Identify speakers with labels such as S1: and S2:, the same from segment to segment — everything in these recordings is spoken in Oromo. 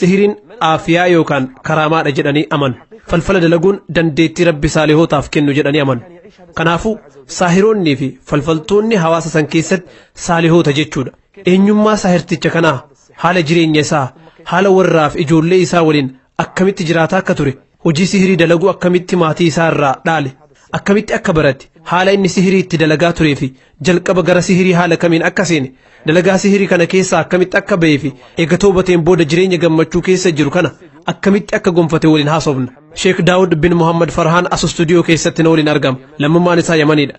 S1: sihiriin aafiyaa yookaan karaamaadha jedhanii amanu falfala dalaguun dandeettii rabbi saalihootaaf kennu jedhanii amanu kanaafuu saahiroonnii fi falfaltoonni hawaasa san keessatti saalihoota jechuudha eenyummaa saahirticha kanaa haala jireenya isaa haala warraaf ijoollee isaa waliin akkamitti jiraataa akka ture Hojii sihirii dalaguu akkamitti maatii isaa irraa dhaale? Akkamitti akka barate? Haala inni sihirii itti dalagaa turee fi jalqaba gara sihirii haala kamiin akka seene? Dalagaa sihirii kana keessaa akkamitti akka ba'ee fi eega toobateen booda jireenya gammachuu keessa jiru kana akkamitti akka gonfate waliin haasofna. Sheek Daawud bin Muhammad Farhaan as istuudiyoo keessatti na waliin argama. Lammummaan isaa Yamaniidha.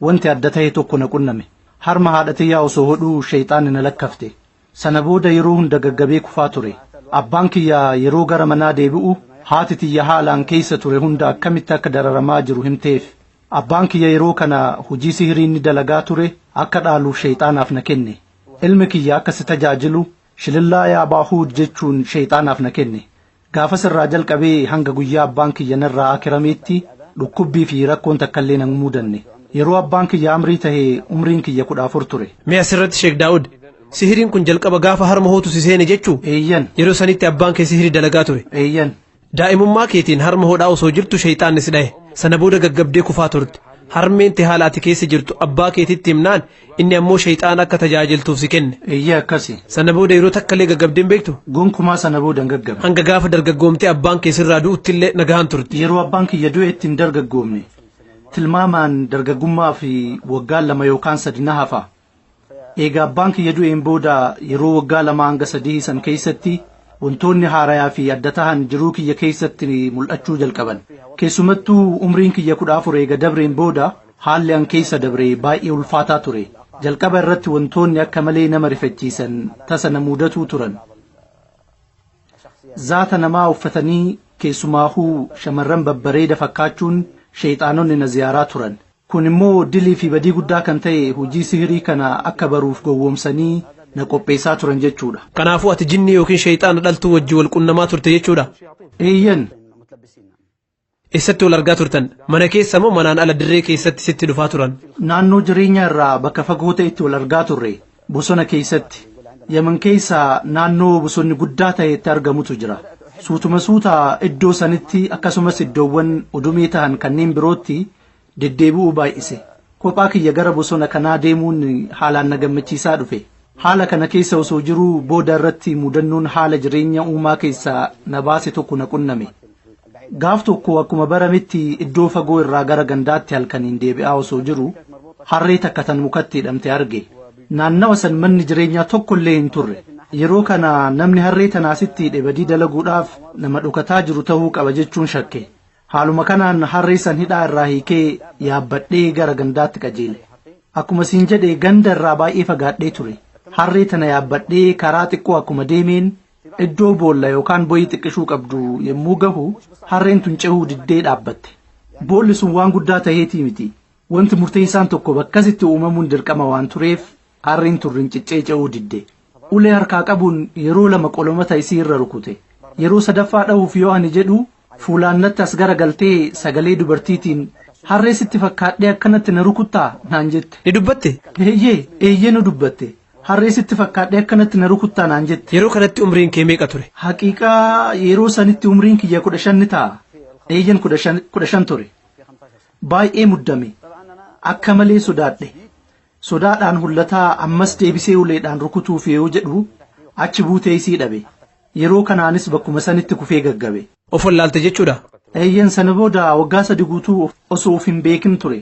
S2: Wanti adda tahe tokko na qunname. Harma haadha tiyyaa osoo hodhuu sheyxaanni na lakkafte. Sana booda yeroo hunda gaggabee kufaa ture. Abbaan kiyya yeroo gara manaa deebi'u haati tiyya haala an keeysa ture hunda akkamitti akka dararamaa jiru himteef. Abbaan kiyya yeroo kana hujii sihirii inni dalagaa ture akka dhaaluuf sheyxaanaaf na kenne. Ilmi kiyya akka si tajaajilu shilillaa yaa Baahuud jechuun sheyxaanaaf na kenne. Gaafas irraa jalqabee hanga guyyaa abbaan kiyya narraa akirameetti dhukkubbii fi rakkoon takkallee na hin muudanne. Yeroo abbaan kiyya amrii tahe umriin kiyya 14 ture. Mee asirratti Sheek Daawud,
S1: sihiriin kun jalqaba gaafa harma hootu si seene jechuu? Eeyyan. Yeroo sanitti
S2: abbaan kee
S1: sihiri dalagaa ture. Eeyyan.
S2: Daa'imummaa keetiin
S1: harma hodhaa osoo jirtu sheyxaanni si dhahe. Sana booda gaggabdee kufaa turte. Harmeen tee haala ati keessa jirtu abbaa keetitti himnaan Inni ammoo shayxaana akka tajaajiltuuf si kenne. Eeyyee akkasi. Sana
S2: booda yeroo takkallee
S1: gaggabdee hin beektu? Gonkumaa sana booda hin
S2: gaggabe. Hanga gaafa dargaggoomtee
S1: abbaan kee sirraa du'uttillee nagahaan turte. Yeroo abbaan kiyya du'etti
S2: hin dargaggoomne. Tilmaamaan dargaggummaa fi waggaan lama yookaan sadi na hafa. Eega abbaan kiyya du'een booda yeroo waggaa lama hanga sadii san keessatti wantoonni haarayaa fi adda tahan jiruu kiyya keessatti mul'achuu jalqaban. Keessumattuu umriin kiyya kudha afur eega dabreen booda Haalli an keessa dabre baay'ee ulfaataa ture. Jalqaba irratti wantoonni akka malee nama rifachiisan tasa na muudatuu turan. Zaata namaa uffatanii keessumaahuu shamarran babbareeda fakkaachuun sheeyxaanonni na ziyaaraa turan. Kun immoo dilii fi badii guddaa kan ta'e hojii sihirii kana akka baruuf gowwoomsanii na qopheessaa turan jechuudha. Kanaafuu ati jinnii
S1: yookiin sheeyxaana dhaltuu wajjin wal qunnamaa turte jechuudha? Eeyyen. Eessatti wal argaa turtan? Mana keessa moo manaan ala dirree keessatti sitti dhufaa turan? Naannoo jireenyaa
S2: irraa bakka fagoo ta'etti wal argaa turre. Bosona keessatti. Yaman keessa naannoo bosonni guddaa ta'etti argamutu jira. Suutuma suuta iddoo sanitti akkasumas iddoowwan udumee tahan kanneen birootti deddeebi'uu baay'ise. Kophaa kiyya gara bosona kanaa deemuun haalaan na gammachiisaa dhufe. Haala kana keessa osoo jiruu booda irratti mudannoon haala jireenya uumaa keessaa na baase tokko na qunname. Gaaf tokko akkuma barametti iddoo fagoo irraa gara gandaatti halkaniin deebi'aa osoo jiru harree takka tan mukatti hidhamte arge. Naannawa san manni jireenyaa tokko illee hin turre. Yeroo kana namni harree tana asitti hidhe badii dalaguudhaaf nama dhokataa jiru tahuu qaba jechuun shakke. Haaluma kanaan harree san hidhaa irraa hiikee yaabbadhee gara gandaatti qajeele. Akkuma siin jedhe ganda irraa baay'ee fagaadhee ture. Harree tana yaabbadhee karaa xiqqoo akkuma deemeen iddoo boolla yookaan boyii xiqqishuu qabdu yommuu gahu harreen tun cehuu diddee dhaabbatte. Boolli sun waan guddaa taheetii miti. Wanti murteessaan tokko bakkasitti uumamuun dirqama waan tureef Aarriin tun rinciccee ce'uu didde. Ulee harkaa qabuun yeroo lama qolomata isii irra rukute. Yeroo sadaffaa dhahuuf yoo ani jedhu fuulaan natti as gara galtee sagalee dubartiitiin Harree sitti fakkaadhee akkanatti na rukuttaa? naan jette. Ni dubbatte? Eeyyee,
S1: eeyyee nu
S2: dubbatte. Harree sitti fakkaadhee akkanatti na rukuttaa? naan jette. Yeroo kanatti umriin kee
S1: meeqa ture? Haqiiqaa
S2: yeroo sanitti umriin kiyya 15 ni ta'a. Eeyyen 15 ture. Baay'ee muddame. Akka malee sodaadhe. Sodaadhaan hullataa ammas deebisee uleedhaan rukutuuf yoo jedhu achi buutee isii dhabe. Yeroo kanaanis bakkuma sanitti kufee gaggabe. Of wallaalte jechuudhaa?
S1: Eeyyen sana booda
S2: waggaa sadi guutuu osoo of hin beekin ture.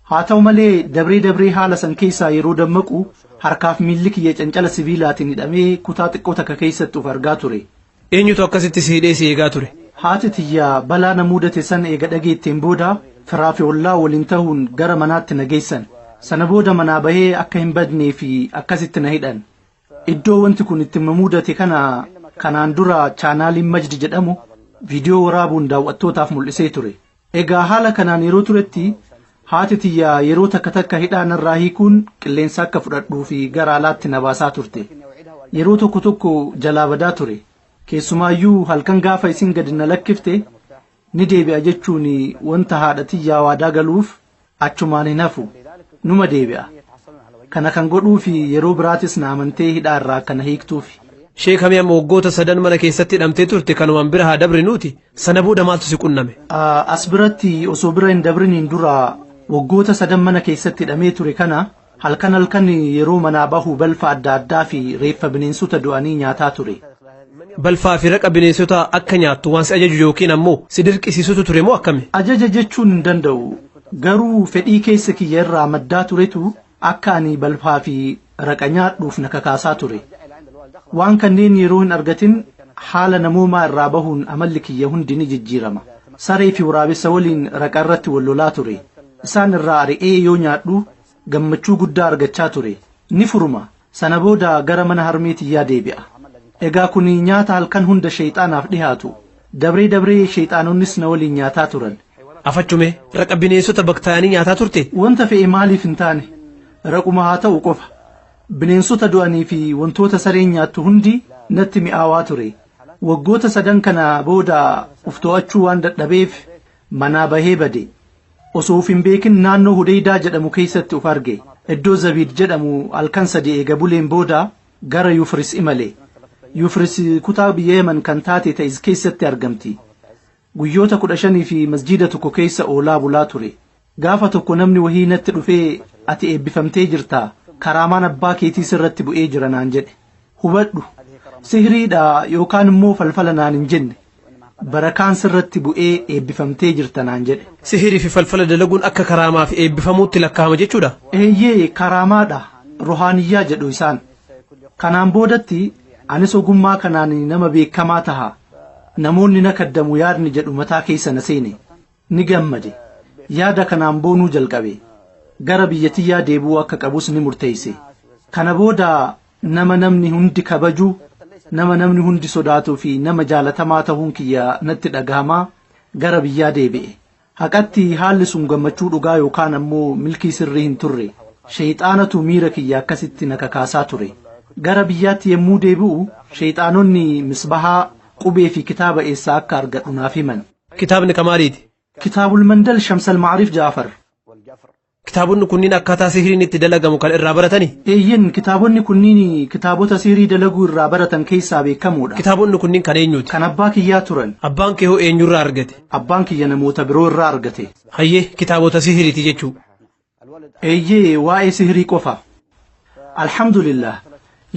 S2: Haa ta'u malee dabree dabree haala san keessaa yeroo dammaqu harkaaf miilli kiyya cancala sibiilaatiin hidhamee kutaa xiqqoo takka keessatti of argaa ture. Eenyutu akkasitti
S1: si hidhee si eegaa ture? Haati tiyya
S2: balaa na muudate san eega dhageetteen booda firaa fi ollaa waliin tahuun gara manaatti na geessan. Sana booda manaa bahee akka hin badnee fi akkasitti na hidhan. Iddoo wanti kun itti na muudate kana kanaan dura chaanaaliin Majd jedhamu viidiyoo waraabuun daaw'attootaaf mul'isee ture. Egaa haala kanaan yeroo turetti haati tiyya yeroo takka takka hidhaa narraa hiikuun qilleensa akka fudhadhuu fi gara alaatti na baasaa turte. Yeroo tokko tokko jalaa badaa ture. Keessumaayyuu halkan gaafa isin gadi na lakkifte ni deebi'a jechuun wanta haadha tiyyaa waadaa galuuf achumaan hin hafu numa deebi'a kana kan godhuufi yeroo biraatis na amantee hidhaa irraa akka na hiiktuufi Sheek Hamee amma
S1: waggoota sadan mana keessatti hidhamtee turte kanumaan bira haa dabrinuuti sana booda maaltu si qunname? Ah, as biratti
S2: osoo bira hin dabriniin dura waggoota sadan mana keessatti hidhamee ture kana Halkan halkan yeroo manaa bahu balfa adda addaa fi reeffa bineensota du'anii nyaataa ture. Balfaa fi
S1: raqa bineensotaa akka nyaattu waan si ajaju yookiin ammoo si dirqisiisutu ture moo akkami? Ajaja jechuun hin
S2: danda'u. Garuu fedhii keessa kiyya irraa maddaa turetu akka ani balfaa fi raqa nyaadhuuf na kakaasaa ture. Waan kanneen yeroo hin argatin haala namoomaa irraa bahuun amalli kiyya hundi ni jijjiirama. Saree fi waraabessa waliin raqa irratti wal lolaa ture. isaan irraa ari'ee yoo nyaadhu gammachuu guddaa argachaa ture ni furuma sana booda gara mana harmee tiyyaa deebi'a egaa kuni nyaata halkan hunda sheyxaanaaf dhihaatu dabree dabree sheyxaanonnis na waliin nyaataa turan Afachume
S1: raqa bineensota baktaayanii nyaataa turte? wanta fe'e maaliif hin
S2: taane raquma haa ta'u qofa bineensota du'anii fi wantoota sareen nyaattu hundi natti mi'aawaa ture waggoota sadan kana booda uf to'achuu waan dadhabeef Manaa bahee bade. Osoo of hin beekin naannoo Hudeydaa jedhamu keessatti of arge. Iddoo Zabiid jedhamu halkan sadi eega buleen booda gara Yufris imale. Yufris kutaa biyya Yaman kan taate Ta'iz keessatti argamti. Guyyoota 15f masjiida tokko keessa oolaa bulaa ture. Gaafa tokko namni wahii natti dhufee ati eebbifamtee jirta, karaamaan abbaa keetii sirratti bu'ee jira naan jedhe. hubadhu sihriidha yookaan immoo falfala naan hin jenne barakaan sirratti bu'ee eebbifamtee jirta naan jedhe. Sihirii fi falfala
S1: dalaguun akka karaamaa fi eebbifamuutti lakkaa'ama jechuudha. Eeyyee karaamaadha
S2: ruhaaniyyaa jedhu isaan. Kanaan boodatti anis ogummaa kanaan nama beekamaa taha namoonni na kaddamu yaadni jedhu mataa keessa na seene. Ni gammade. Yaada kanaan boonuu jalqabe. Gara biyya tiyyaa deebi'uu akka qabus ni murteesse. Kana booda nama namni hundi kabaju, nama namni hundi sodaatuu fi nama jaalatamaa tahuun kiyya natti dhagahama. Gara biyyaa deebi'e. Haqatti haalli sun gammachuu dhugaa yookaan ammoo milkii sirrii hin turre. Sheyxaanatu miira kiyya akkasitti na kakaasaa ture. Gara biyyaatti yommuu deebi'u, sheyxaanonni Misbahaa, qubee fi kitaaba eessaa akka argadhu naaf himan. Kitaabni kamaaliiti?
S1: Kitaabul Mandal
S2: Shamsal Ma'arif Ja'afar.
S1: Kitaabonni kunniin akkaataa sihriin itti dalagamu kan irraa baratani? Eeyyen, kitaabonni
S2: kunniin kitaabota sihrii dalaguu irraa baratan keessaa beekamoodha. Kitaabonni kunniin kan eenyuuti?
S1: Kan abbaa kiyyaa turan.
S2: Abbaan kee hoo eenyurraa
S1: argate? Abbaan kiyya namoota
S2: biroo irraa argate. Hayyee, kitaabota
S1: sihriiti jechuu. Eeyyee
S2: waa'ee sihrii qofa. Alhamdulillah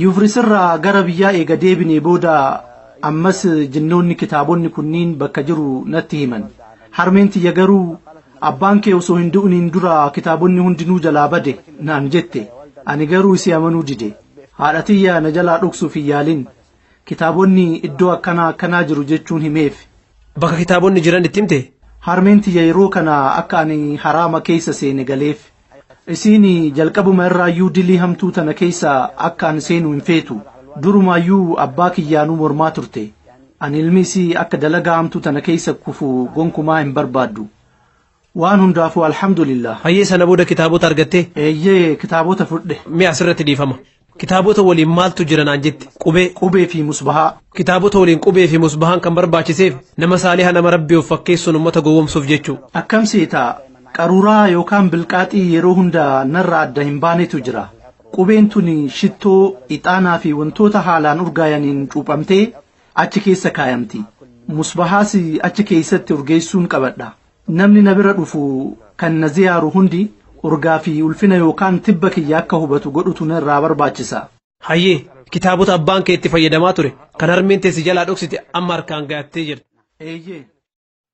S2: Yufris irraa gara biyyaa eega deebinee booda ammas jinnoonni kitaabonni kunniin bakka jiru natti himan. Harmeen tiyya garuu abbaan kee osoo hin du'niin dura kitaabonni hundinuu jalaa bade naan jette. Ani garuu isii amanuu dide. Haadha tiyya na jalaa dhoksuuf hin yaalin. Kitaabonni iddoo akkanaa akkanaa jiru jechuun himeef. Bakka kitaabonni
S1: jiran itti himte? Harmeen tiyya yeroo
S2: kana akka ani haraama keessa seene galeef. Isiin jalqabuma irraayyuu dilii hamtuu tana keessa akka an seenu hin feetu. Durumaayyuu abbaa kiyyaanuu mormaa turte. Ani ilmi isii akka dalagaa hamtuu tana keessa kufu gonkumaa hin barbaaddu. Waan hundaafuu alhamdulillah. Hayyee sana booda kitaabota
S1: argattee? Eeyyee kitaabota
S2: fudhe. Mee asirratti dhiifama.
S1: Kitaabota waliin maaltu jira naan jette? Qubee. Qubee fi musbahaa.
S2: Kitaabota waliin qubee
S1: fi musbahaan kan barbaachiseef nama saaliha nama rabbi of fakkeessuun ummata gowwomsuuf jechuu. Akkam seeta
S2: qaruuraa yookaan bilqaaxii yeroo hunda narra adda hin baanetu jira. Qubeen tuni shittoo, ixaanaa fi wantoota haalaan urgaayaniin cuuphamtee achi keessa kaayamti. Musbahaas achi keessatti urgeessuun qabadha. Namni na bira dhufu kan na ziyaaru hundi urgaa fi ulfina yookaan tibba kiyya akka hubatu godhutu na irraa barbaachisa. Hayyee,
S1: kitaabota abbaan kee itti fayyadamaa ture kan harmeen tee si jalaa dhoksite amma harkaan gahattee jirta. Eeyyee.